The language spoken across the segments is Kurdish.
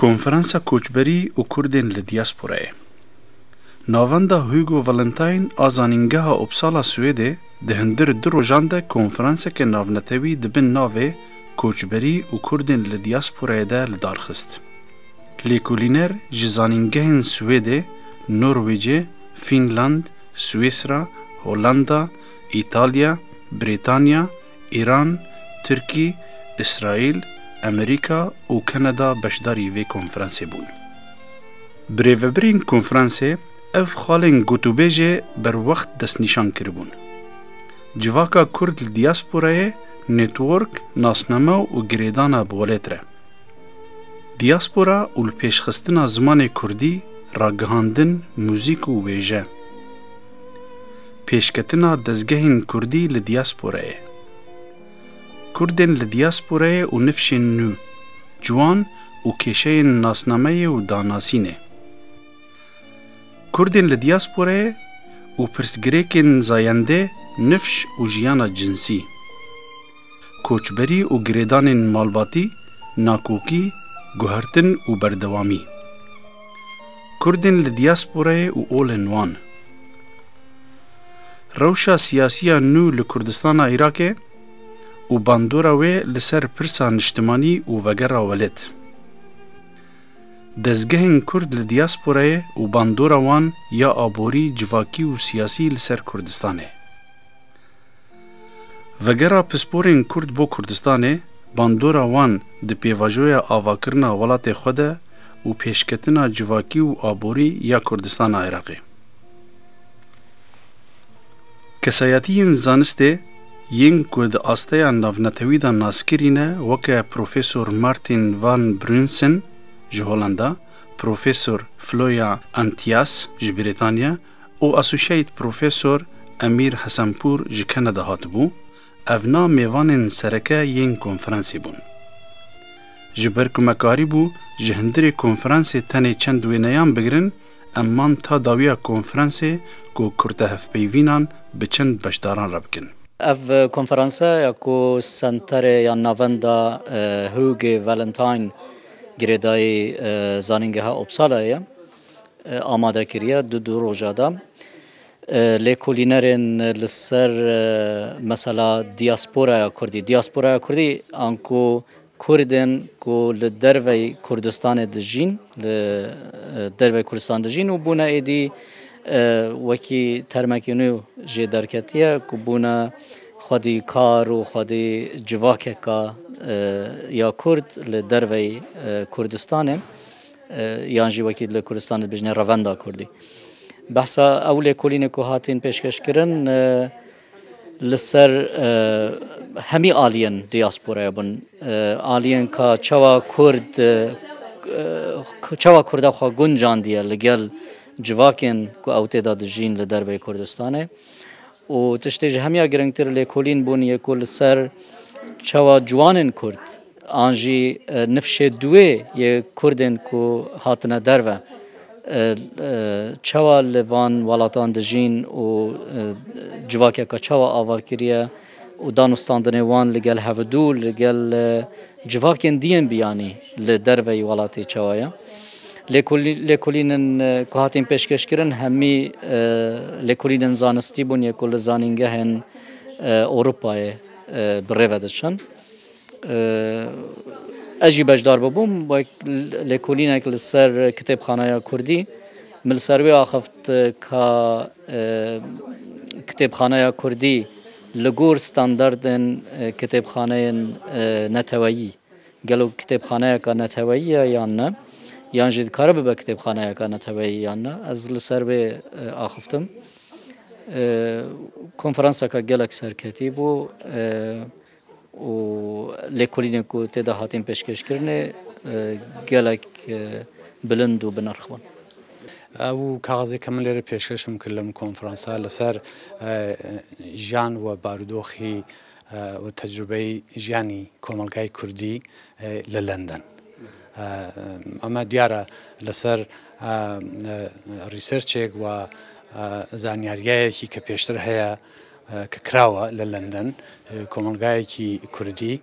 Konferansa Koçberî û Kurdên li Diasporayê Navenda Hugo Valentine a Zanîngeha Uppsala Swêdê di hundir du rojan de konferanseke navnetewî di bin navê Koçberî û Kurdên li Diasporayê de li dar xist. Lêkolîner ji zanîngehên Swêdê, Norwêcê, Fînland, Swîsra, Hollanda, Îtalya, Brîtanya, Îran, Tirkî, Îsraîl, Amerîka û Kanada beşdarî vê konferansê bûn. Bi rêvebirên konferansê ev xalên gotûbêjê berwext destnîşan kiribûn. Civaka Kurd li Diasporayê network, nasname û girêdana bi welêtir e. Diaspora û li pêşxistina zimanê Kurdî, ragihandin, muzîk û wêje. Pêşketina dezgehên kurdî li diasporayê. Kurdên li diasporayê û nifşên nû, ciwan û kêşeyên nasnameyê û danasînê. Kurdên li diasporayê û pirsgirêkên zayendê, nifş û jiyana cinsî. Koçberî û girêdanên malbatî, nakokî, guhertin û berdewamî. Kurdên li diasporayê û olên wan. Rewşa siyasiya nû li Kurdistana Îrakê û bandora wê li ser pirsa niştimanî û vegera welêt. Dezgehên Kurd li diasporayê û bandora wan ya aborî, civakî û siyasî li ser Kurdistanê. Vegera pisporên Kurd bo Kurdistanê, bandora wan di pêvajoya avakirina welatê xwe de û pêşketina civakî û aborî ya Kurdistana Iraqê. Kesayetiyên zanistê yên ku di asteya navnetewî de naskirî ne weke Profesor Martin Van Brunsen ji Holanda, Profesor Floya Antias ji Brîtanya, û Associate Professor Emîr Hesenpûr ji Kanada hatibû, ev na mêvanên sereke yên konferansê bûn. Ji ber ku me karîbû ji hundirê konferansê tenê çend wêneyan bigirin, em man ta dawiya konferansê ku kurte hevpeyvînan bi çend beşdaran re bikin. Ev konferansa ya ku senterê ya navenda Hugues Valentine girêdayî Zanîngeha Uppsala'yê ye, amade kiriye di du roja de. Lêkolînerên li ser mesela diasporaya Kurdî, diasporaya Kurdî an ku Kurdên ku li derveyî Kurdistanê dijîn, li derveyî Kurdistan dijîn û bûne êdî wekî termekî nû jê derketiye ku bûne xwedî kar û xwedî civakeka ya Kurd li derveyî Kurdistanê. Yan jî wekî li Kurdistanê dibêjne revenda Kurdî. Behsa ew lêkolînê ku hatên pêşkeşkirin li ser hemî aliyên diasporaya bûn. Aliyên ka çawa Kurd çawa Kurda xwe guncandiye li gel civakên ku ew têda dijîn li derveyê Kurdistanê. Û tiştê ji hemîya giringtir lêkolîn bûn ye ku li ser çawa ciwanên kurd an jî nifşê duwê yê kurdên ku hatine derve çawa li van welatan dijîn û civakeke çawa ava kiriye û danûstandinê wan li gel hevidû li gel Civakên di yên biyanî li derveyî welatê çawa ye? Lêkolînin ku hatên pêşkêşkirin hemî lêkolînin zanistî bûn ye ku li zanîngehên Ewropayê bi rêve diçin. Ez jî beşdar bûbûm wek lêkolînek li ser kitêbxaneya Kurdî. Min li ser wê axivt ka kitêbxaneya Kurdî Li gor standardên kitêbxaneyên neteweyî, gelo kitêbxaneyeka neteweyî ye yan ne, yan jî dikare bibe kitêbxaneyeka neteweyî yan ne, ez li ser vê axiftim. Konferanseke gelek serketî bû û lêkolînên ku tê de hatîn pêşkêşkirinê gelek bilind û binirx bûn. Ew kaxizê ke min lêre pêşkeş min kir li min konferansa li ser jiyan û barudoxî û tecrubeyê jiyanî komelgayê kurdî li London. Eme diyar e li ser researchek û zanyariyayekî ke pêştir heye ke kirawe li London komelgayekî kurdî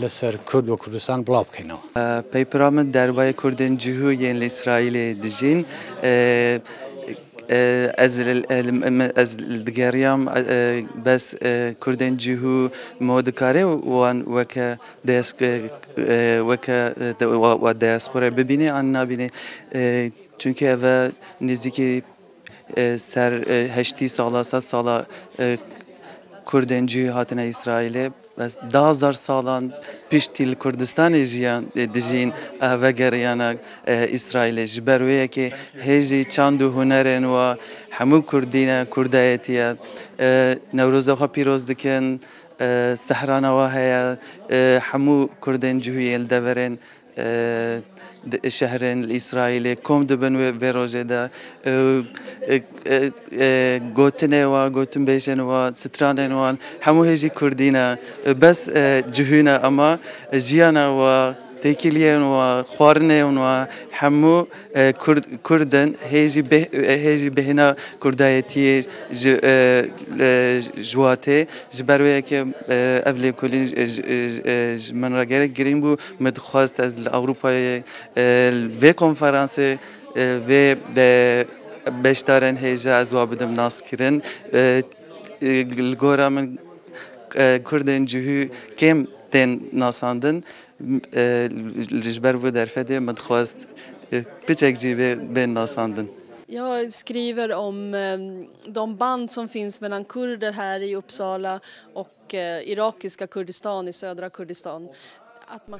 li ser Kurd û Kurdistan bila bikênenw. Peypira min derbayê Kurdên cihû yên li Îsraîlê dijîn. Ez ez digeriyam bes Kurdên cihû mo dikare wan weke dayas weke diasporayê bibîne an nabîne. Çunke ev e nêzîkî Ser heştî sala sed sala Kurdên cihê hatine Îsraîlê bes da zar salan piştî li Kurdistanê jiyan ê dijîn a vegeriyana Îsraîlê. Ji ber wê yekê hêjî çand û hunerên wa hemû Kurdî ne, Kurdayetî ye. Newroza xwe pîroz dikin. Sehrana wa heye hemû Kurdên cihûyê li deverên Şehrên li Îsraîlê kom dibin wê vê rojê de û gotinê wan, gotinbêjên wan, stranên wan hemû hê jî kurdî ne. Bes cihûn e, ema jiyana wan, têkiliyên wan, xwarinên wan hemû. Kurd Kurd in, hê jî bê hê jî bêhna Kurdayetiyê ji ji wa tê. Ji ber wê yekê ev lêkolîn ji min re gelek girîng bû. Min dixwest ez li Ewropayê li vê konferansê vê beşdarên hêja ez wan bidim naskirin. Li gora min Kurdên cihû kêm tên nasandin. Ji ber vê derfetê min dixwest piçek jî bên nasandin. Jag skriver om de band som finns mellan kurder här i Uppsala och irakiska Kurdistan i södra Kurdistan.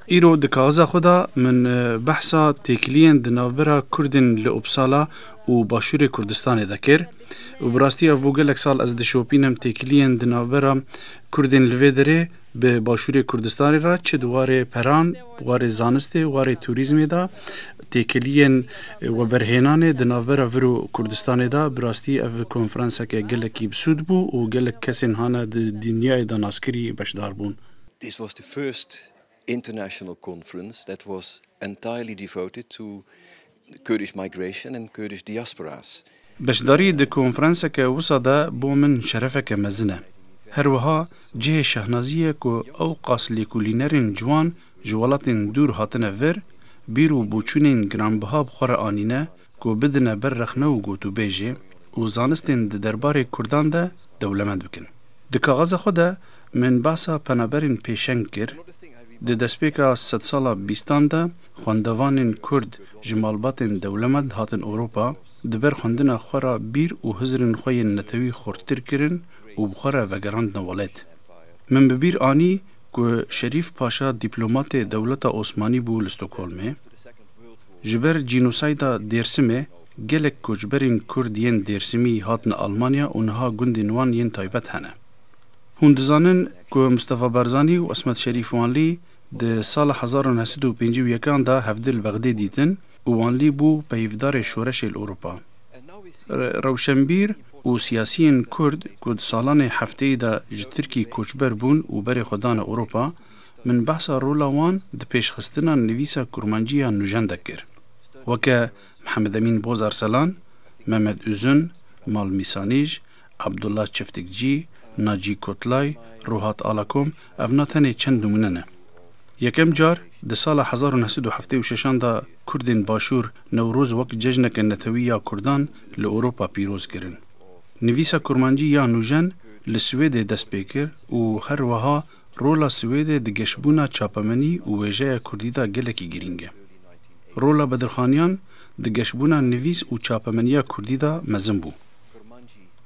Îro di kaxiza xwe de min behsa têkiliyên di navbera Kurdên li Uppsala û Başûrê Kurdistanê de kir û bi rastî ev bû gelek sal ez dişopînim têkiliyên di navbera Kurdên li vê derê Bi Başûrê Kurdistanê re çi di warê peran, warê zanistê, warê tûrîzmê de têkiliyên weberhênanê di navbera vir û Kurdistanê de bi rastî ev konferanseke gelekî bi sûd bû û gelek kesên hane di dinyayê de naskirî beşdar bûn. This was the first international conference that was entirely devoted to Kurdish Migration and Kurdish Diasporas. Beşdarî di konferanseke wisa de bo min şerefeke mezin e. Her wiha cihê şehnazî ye ku ewqas lêkolînerên ciwan ji welatên dûr hatine vir, bîr û boçûnên giranbiha bi xwe re anîne ku bidine ber rexne û gotûbêjê û zanistên di derbarê Kurdan de dewlemend bikin. Di kaxaza xwe de min behsa penaberên pêşeng kir. Di destpêka sedsala bîstan de Xwendevanên Kurd ji malbatên dewlemend hatin Ewropa, di ber xwendina xwe re bîr û hizirên xwe yên netewî xurttir kirin û bi xwe re vegerandine welêt. Min bi bîr anî ku Şerîf Paşa dîplomatê dewleta Osmanî bû li Stockholmê. Ji ber cînosayda Dêrsimê gelek koçberên Kurd yên Dêrsimî hatine Almanya û niha gundên wan yên taybet hene. Hûn dizanin ku Mistefa Barzanî û Ismet Şerîf Wanlî, Di sala hezar û neh sed û pêncî û yekan de hevdî li Bexdê dîtin û wan lî bû peyivdarê şoreşê li Ewropa. Rewşenbîr û siyasiyên Kurd ku di salanê hefteyê de ji Tirkî koçber bûn û berê xwe dane Ewropa, min behsa rola wan di pêşxistina nivîsa kurmancî ya nujen de kir. Weke Mihemedemîn Bozarselan, Memed Uzun, Mal Mîsanîj, Abdullah Çiftikcî, Nacî Kotlay, Ruhat Alakom ev na tenê çend nimûne ne. Yekem car di sala hezar û neh sed û heftê û şeş an da Kurdên Başûr Newroz wek cejneke netewî ya Kurdan li Ewropa pîroz kirin. Nivîsa kurmancî ya nûjen li Swêdê dest pê kir û her wiha Rola Swêdê di geşbûna çapemenî û wêjeya kurdî de gelekî girîng e. Rola Bedirxaniyan di geşbûna nivîs û çapemeniya kurdî de mezin bû.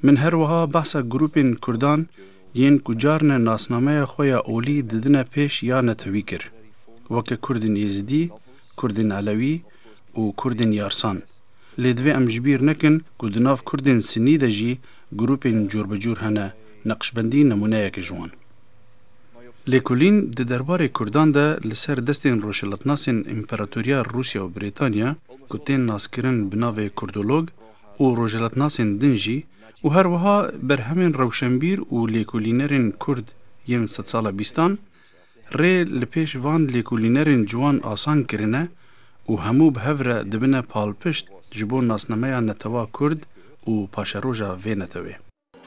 Min her wiha behsa grûpên kurdan yên ku carine nasnameya xwe ya olî didine pêş ya netewî kir, weke kurdên êzidî, kurdên elewî û kurdên yarsan. Lê divê em ji bîr nekin ku di nav Kurdên Sinî de jî grûpên curbicûr hene, Neqşbendî nemûneyeke ji wan. Lêkolîn di derbarê Kurdan de li ser destên rojhilatnasên Împeratoriya Rûsya û Brîtanya ku tên naskirin bi navê Kurdolog û rojhilatnasên din jî û her wiha berhemên rewşenbîr û lêkolînerên Kurd yên sedsala bîstan Rê li pêş van lêkolînerên ciwan asan kirine û hemû bi hev re dibine palpişt ji bo nasnameya netewa Kurd û paşeroja vê netewê.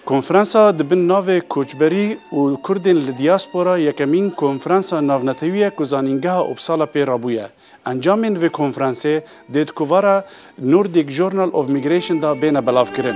Konferansa di bin navê Koçberî û Kurdên li Diaspora yekemîn konferansa navnetewî ye ku Zanîngeha Uppsala pê rabûye. Encamên vê konferansê dê di kovara Nordic Journal of Migration de bêne belavkirin.